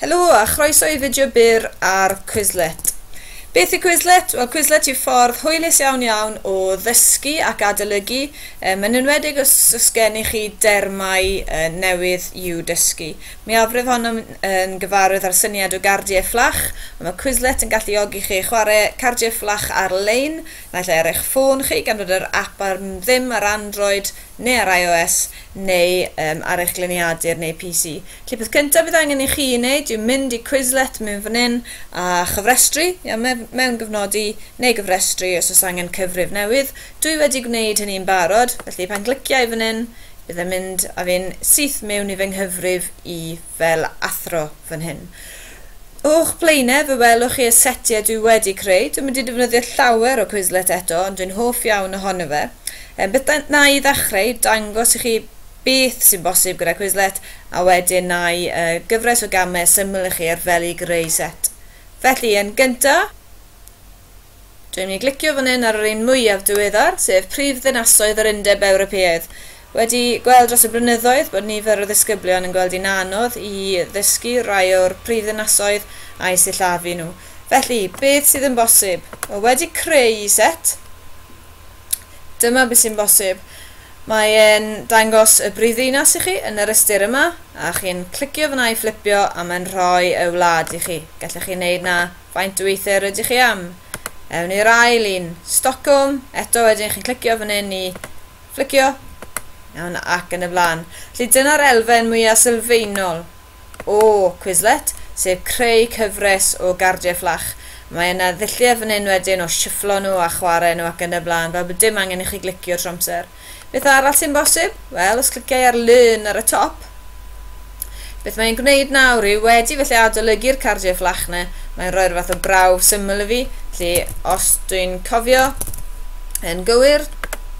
Helo a chroeso i fideo byr ar Quizlet. Beth yw Quizlet? Wel, Quizlet yw ffordd hwylus iawn iawn o ddysgu ac adolygu, um, yn enwedig os, os gennych chi dermau uh, newydd i'w dysgu. Mi afref honno yn gyfarwydd â'r syniad o gardiau fflach, ond mae Quizlet yn galluogi chi chwarae cardiau fflach ar-lein, naill ai ar eich ffôn chi, gan fod yr app ar ddim ar Android, neu ar IOS neu um, ar eich gliniadur neu PC. Lle peth cyntaf fydd angen i chi wneud yw mynd i Quizlet mewn fan hyn a chyfrestru, ia, mewn gyfnodi neu gyfrestru os oes angen cyfrif newydd. Dwi wedi gwneud hynny'n barod, felly pan glicia i fan hyn, bydd e'n mynd a fi'n syth mewn i fy nghyfrif i fel athro fan hyn. O'ch blaenau fe welwch chi y setiau dwi wedi creu. Dwi'n mynd i defnyddio llawer o Quizlet eto ond dwi'n hoff iawn ohono fe. Ehm, beth da- na i ddechreu, dangos i chi beth sy'n bosib gyda Quizlet a wedyn na i uh, gyfres o gamau syml i chi ar fel i greu set. Felly, yn gynta, Dwi'n mynd i glicio fan hyn ar yr un mwyaf diweddar, sef Prif Ddinasoedd yr Undeb Ewropeaidd. Wedi gweld dros y blynyddoedd bod nifer o ddisgyblion yn gweld hi'n anodd i ddysgu rai o'r prif ddinasoedd a'u sillafu nhw. Felly, beth sydd yn bosib? Wel, wedi creu set, dyma beth sy'n bosib. Mae e'n dangos y brif ddinas i chi yn yr ystyr yma, a chi'n clicio fyna i fflipio a mae'n rhoi y wlad i chi. Gallech chi wneud 'na Faint o ether ydych chi am? Ewn i'r ail un, Stockholm, eto wedyn chi'n clicio fan hyn i fflicio, iawn ac yn y blaen. Felly dyna'r elfen mwyaf sylfaenol o Quizlet, sef creu cyfres o gardiau fflach. Mae yna ddulliau fan hyn wedyn o sifflo nhw a chwarae nhw ac yn y blaen, fel bod dim angen i chi glicio trwy amser. Beth arall sy'n bosib? Wel, os cliciau ar Learn ar y top, beth mae'n gwneud nawr yw wedi felly adolygu'r cardiau fflachne, mae'n rhoi'r fath o brawf syml i fi, felly os dwi'n cofio yn gywir,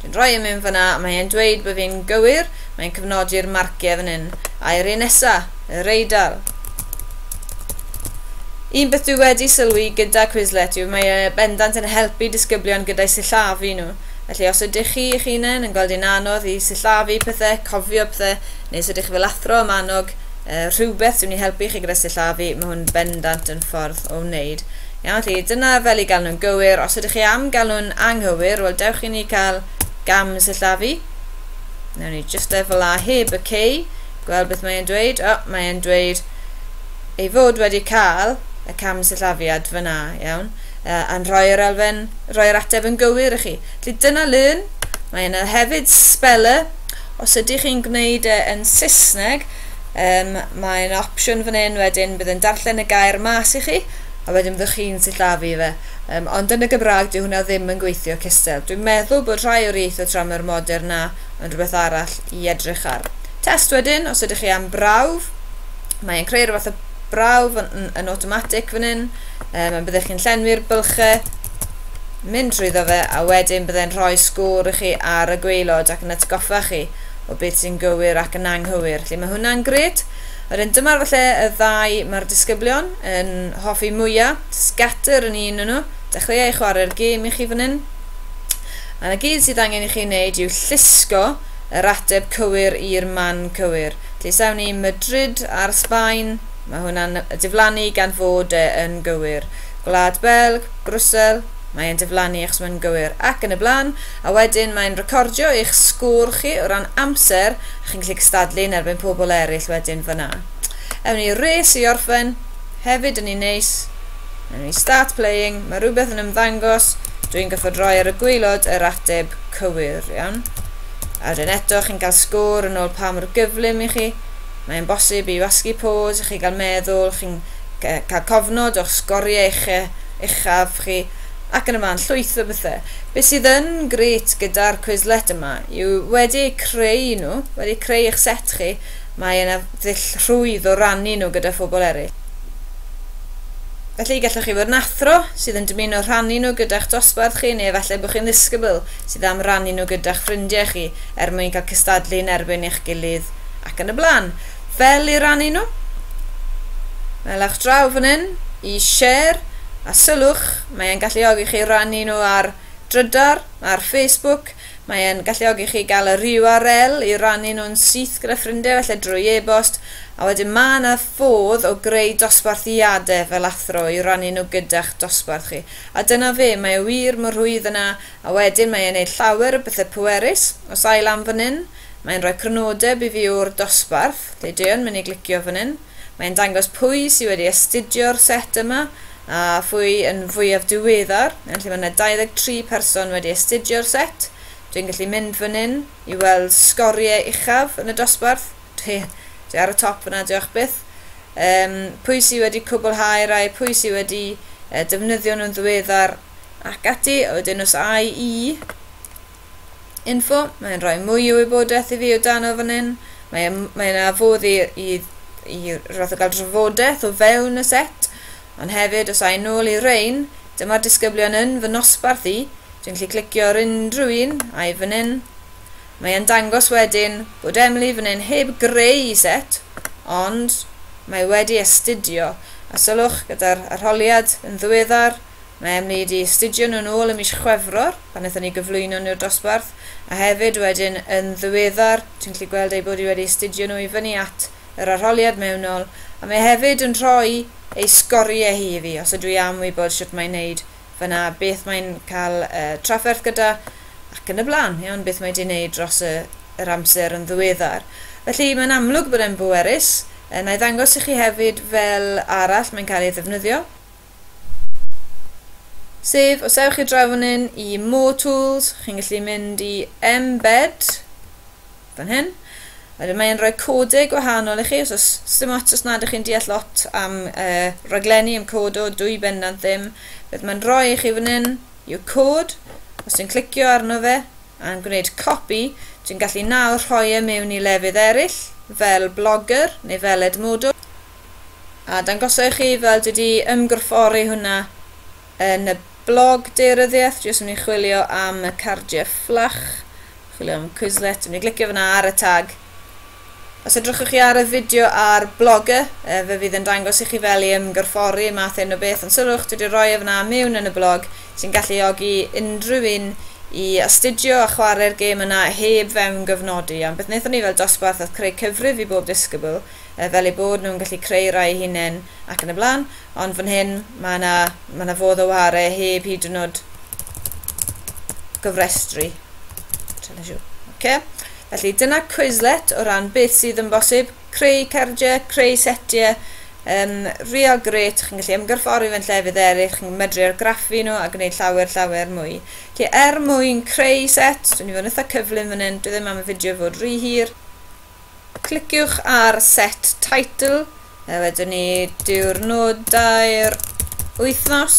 dwi'n rhoi yn mynd fyna, mae e'n dweud bod fi'n gywir, mae'n cyfnodi'r marciau fan hyn, a'r un nesa, y reidal. Un beth dwi wedi sylwi gyda Quizlet yw mae e bendant yn helpu disgyblion gyda'i sillafu nhw. Felly os ydych chi eich hunain yn gweld yn anodd i sillafu pethau, cofio pethau, neu os ydych chi fel athro am annog uh, rhywbeth sy'n mynd i helpu chi gyda sillafu, mae hwn bendant yn ffordd o wneud. Iawn, felly dyna fel i gael nhw'n gywir. Os ydych chi am gael nhw'n anghywir, wel dewch i ni cael gam sillafu. Newn ni just efo la heb y cei, gweld beth mae'n dweud. O, oh, mae'n dweud ei fod wedi cael y cam sillafiad fyna, iawn. Uh, a'n rhoi yr elfen, rhoi yr ateb yn gywir i chi. Felly dyna learn, mae yna hefyd speller, os ydych chi'n gwneud e yn Saesneg, um, mae'n opsiwn fan hyn wedyn bydd yn darllen y gair mas i chi, a wedyn byddwch chi'n sillafu fe. Um, ond yn y Gymraeg dyw hwnna ddim yn gweithio cystel. Dwi'n meddwl bod rhai o'r ieithoedd tramor modern na yn rhywbeth arall i edrych ar. Test wedyn, os ydych chi am brawf, mae'n creu rhywbeth o brawf yn, yn, yn automatic fan hyn, um, a byddech chi'n llenwi'r bylchau, mynd drwyddo fe, a wedyn byddai'n rhoi sgôr i chi ar y gweilod ac yn atgoffa chi o beth sy'n gywir ac yn anghywir. Felly mae hwnna'n gred. Wedyn dyma'r falle y ddau mae'r disgyblion yn hoffi mwyaf, scatter yn un nhw, dechreuau chwarae'r gêm i chi fan hyn. A na gyd sydd angen i chi wneud yw llusgo yr ateb cywir i'r man cywir. Felly sawn ni Madrid ar Sbaen, Mae hwnna'n diflannu gan fod e yn gywir. Gwlad Belg, Brwsel, mae e'n diflannu achos mae'n gywir. Ac yn y blaen. A wedyn mae'n recordio eich sgôr chi o ran amser a chi'n gallu cystadlu yn erbyn pobl eraill wedyn fan'na. Ewn ni i'r race i orffen. Hefyd yn un neis. Ewn ni start playing. Mae rhywbeth yn ymddangos. Dwi'n gorfod rhoi ar y gwaelod yr ateb cywir, iawn? A wedyn eto chi'n cael sgôr yn ôl pa mor gyflym i chi. Mae yn bosib i wasgu pôs i chi gael meddwl, chi'n cael cofnod o'ch sgoriau uche, uchaf chi, ac yn y man, llwyth o bethau. Be sydd yn grêt gyda'r Quizlet yma yw wedi eu creu nhw, wedi creu eich set chi, mae yna ddull rhwydd o rannu nhw gyda phobl eraill. Felly, gallwch chi fod yn athro sydd yn dymuno rhannu nhw gyda'ch dosbarth chi neu efallai bod chi'n ddisgybl sydd am rannu nhw gyda'ch ffrindiau chi er mwyn cael cystadlu yn erbyn eich gilydd Ac yn y blaen. Fel i rannu nhw. Melech draw fan hyn i share a sylwch, mae e'n galluogi chi rannu nhw ar drydar, ar Facebook, mae e'n galluogi chi gael yr URL i rannu nhw'n syth gyda ffrindiau felly drwy e-bost, a wedyn mae yna ffodd o greu dosbarthiadau fel athro i rannu nhw gyda'ch dosbarth chi. A dyna fe, mae e wir mor rhwydd yna, a wedyn mae e'n neud llawer o bethau pwerus, os ai lan fan hyn, Mae'n rhoi crynodeb i fi o'r dosbarth, deudeuon mynd i glicio fan hyn. Mae'n dangos pwy sy wedi astudio'r set yma a phwy yn fwyaf diweddar. Yn lle mae yna 23 person wedi astudio'r set, dwi'n gallu mynd fan hyn i weld sgoriau uchaf yn y dosbarth. Dwi, dwi ar y top yna, diolch byth. Um, pwy sy wedi cwblhau rai, pwy sy wedi uh, defnyddio nhw'n ddiweddar ac ati. A wedyn os ai i info, mae'n rhoi mwy o wybodaeth i fi o dano fan hyn. Mae, mae yna fodd i, i, i roedd o gael drafodaeth o fewn y set, ond hefyd os a'i nôl i rein, dyma'r disgyblion yn fy nosbarth i, dwi'n gallu clicio ar unrhyw un a'i fan hyn. Mae'n dangos wedyn bod Emily fan hyn heb greu i set, ond mae wedi astudio, a sylwch gyda'r arholiad yn ddiweddar, Naem ni 'di astudio nhw nôl ym mis Chwefror pan wnaethon ni gyflwyno nhw'r dosbarth, a hefyd wedyn yn ddiweddar, ti'n gallu gweld eu bod hi wedi astudio nhw i fyny at yr arholiad mewnol, a mae hefyd yn rhoi ei sgoriau hi i fi, os ydw i am wybod shwt mae'n wneud fan'na, beth mae'n cael y trafferth gyda, ac yn y blaen, iawn, beth mae 'di wneud dros y, yr amser yn ddiweddar. Felly, mae'n amlwg bod e'n bwerus. Yy, 'na i ddangos i chi hefyd fel arall mae'n cael ei ddefnyddio. Sef, os ewch i draw fan hyn i More Tools, chi'n gallu mynd i Embed, fan hyn. Wedyn mae'n rhoi codau gwahanol i chi, os oes dim ots os nad ych chi'n deall lot am uh, raglenni, am codo, dwy bendant ddim. Beth mae'n rhoi i chi fan hyn yw cod, os ti'n clicio arno fe a'n gwneud copi, ti'n gallu nawr rhoi e mewn i lefydd eraill, fel blogger neu fel edmodol. A dangosa i chi fel dwi di ymgorffori hwnna yn y blog deiryddiaeth, dwi jyst yn mynd i chwilio am y cardiau fflach, chwilio am Quizlet, dwi'n mynd i glicio fyna ar y tag. Os edrychwch chi ar y fideo ar Blogger, e, fe fydd yn dangos i chi fel i ymgorffori math hyn o beth, ond sylwch, dwi wedi rhoi e fyna mewn yn y blog, sy'n galluogi unrhyw un i astudio a chwarae'r gêm yna heb fewn gyfnodi, ond beth wnaethon ni fel dosbarth oedd creu cyfrif i bob disgybl, yy fel eu bod nhw'n gallu creu rhai eu hunain ac yn y blaen, ond fan hyn mae yna mae yna fodd o ware heb hyd yn oed gyfrestru. Okay. Felly dyna Quizlet o ran beth sydd yn bosib, creu cardiau, creu setiau, um, real great, chi'n gallu ymgyrffori fe'n llefydd eraill, chi'n medru argraffu nhw a gwneud llawer, llawer mwy. Felly er mwyn creu set, dwi'n i fod yn eitha cyflym fan hyn, dwi ddim am y fideo fod rhy hir, Cliciwch ar Set Title, a wedyn ni diwrnodau'r wythnos.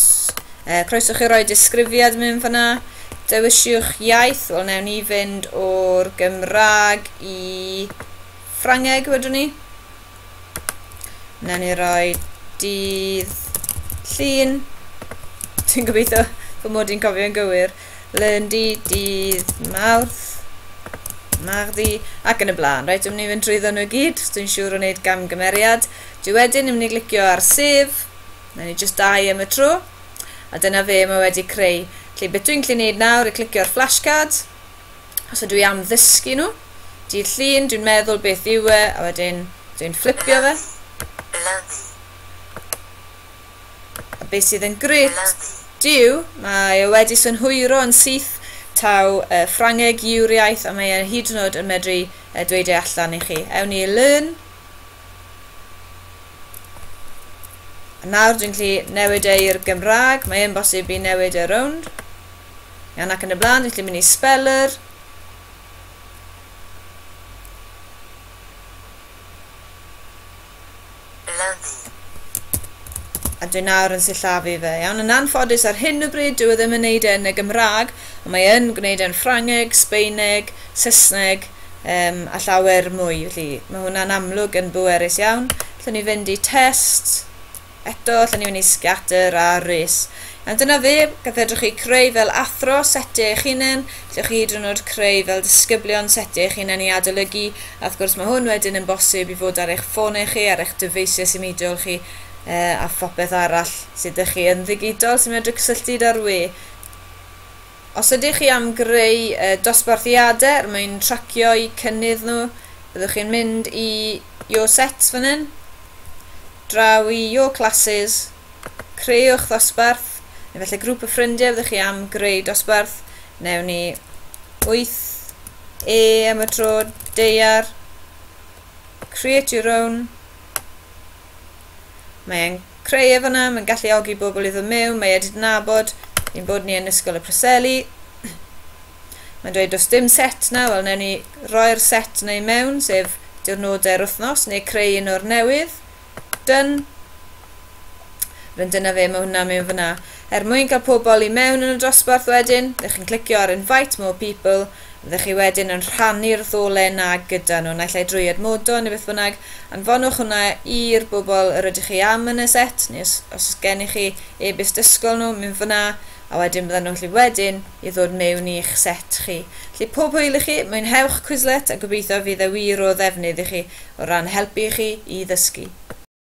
E, croeso chi roi disgrifiad mewn fyna. Dewisiwch iaith, wel newn ni fynd o'r Gymraeg i Ffrangeg wedyn ni. Newn ni roi dydd llun. Dwi'n gobeithio fy mod i'n cofio'n gywir. Lyndy, dydd Mawrth, Mardi ac yn y blaen. Reit, dwi'n mynd i fynd drwy ddyn nhw gyd, dwi'n siŵr o wneud gamgymeriad. Dwi wedyn yn mynd i glicio ar sef, na ni just dau am y tro. A dyna fe mae wedi creu. Felly beth dwi'n gallu gwneud nawr i glicio ar flashcard, os ydw i am ddysgu nhw, dydd llun, dwi'n meddwl beth yw e, a wedyn dwi'n fflipio fe. Lyfi. A be sydd yn grut, Duw, mae e wedi synhwyro yn syth taw uh, Ffrangeg yw'r iaith a mae e hyd yn oed yn medru uh, dweud e allan i chi. Ewn ni learn. A nawr dwi'n gallu newid e i'r Gymraeg, mae e'n bosib i newid e rownd. Iawn ac yn y blaen, dwi'n gallu mynd i speller. Lyfi. A dwi nawr yn sillafu fe. Iawn, yn anffodus ar hyn o bryd dyw e ddim yn wneud e yn y Gymraeg, ond mae yn gwneud e'n Ffrangeg, Sbeineg, Saesneg um, a llawer mwy, felly mae hwnna'n amlwg yn bwerus iawn. Allwn ni fynd i test. Eto, allan ni fynd i scatter a rhys. Iawn, dyna fe. Fe fedrwch chi creu fel athro setiau eich hunain. Allwch chi hyd yn oed creu fel disgyblion setiau eich hunain i adolygu. A wrth gwrs, mae hwn wedyn yn bosib i fod ar eich ffonau chi, ar eich dyfeisiau symudiol chi, uh, a phopeth arall sydd ydych chi yn ddigidol sy'n medru cysylltu da'r we. Os ydych chi am greu uh, dosbarthiadau er mwyn tracio'u cynnydd nhw, byddwch chi'n mynd i Your Sets fan hyn. Drawio classes, creuwch ddosbarth, neu felly grŵp o ffrindiau fyddwch chi am greu dosbarth. Newn ni 8E am y tro, deiar. Create your own. Mae'n creu efo na, mae'n galluogi bobl i ddod mewn, mae edit nabod, ein bod ni yn Ysgol y Preseli. Mae'n dweud does dim set na, wel newn ni roi'r set neu mewn, sef diwrnodau'r wythnos, neu creu un o'r newydd. Done. Rydyn dyna fe, mae hwnna mewn fyna. Er mwyn cael pobl i mewn yn y dosbarth wedyn, ddech chi'n clicio ar Invite More People, ddech chi wedyn yn rhannu'r ddolen na gyda nhw, naill ai drwy admodo neu beth bynnag, anfonwch hwnna i'r bobl yr ydych chi am yn y set, neu os, os gennych chi e-byst ysgol nhw, mynd fyna, a wedyn byddan nhw'n gallu wedyn i ddod mewn i'ch set chi. Felly pob hwyl i chi, mwynhewch Quizlet a gobeithio fydd e wir o ddefnydd i chi o ran helpu chi i ddysgu.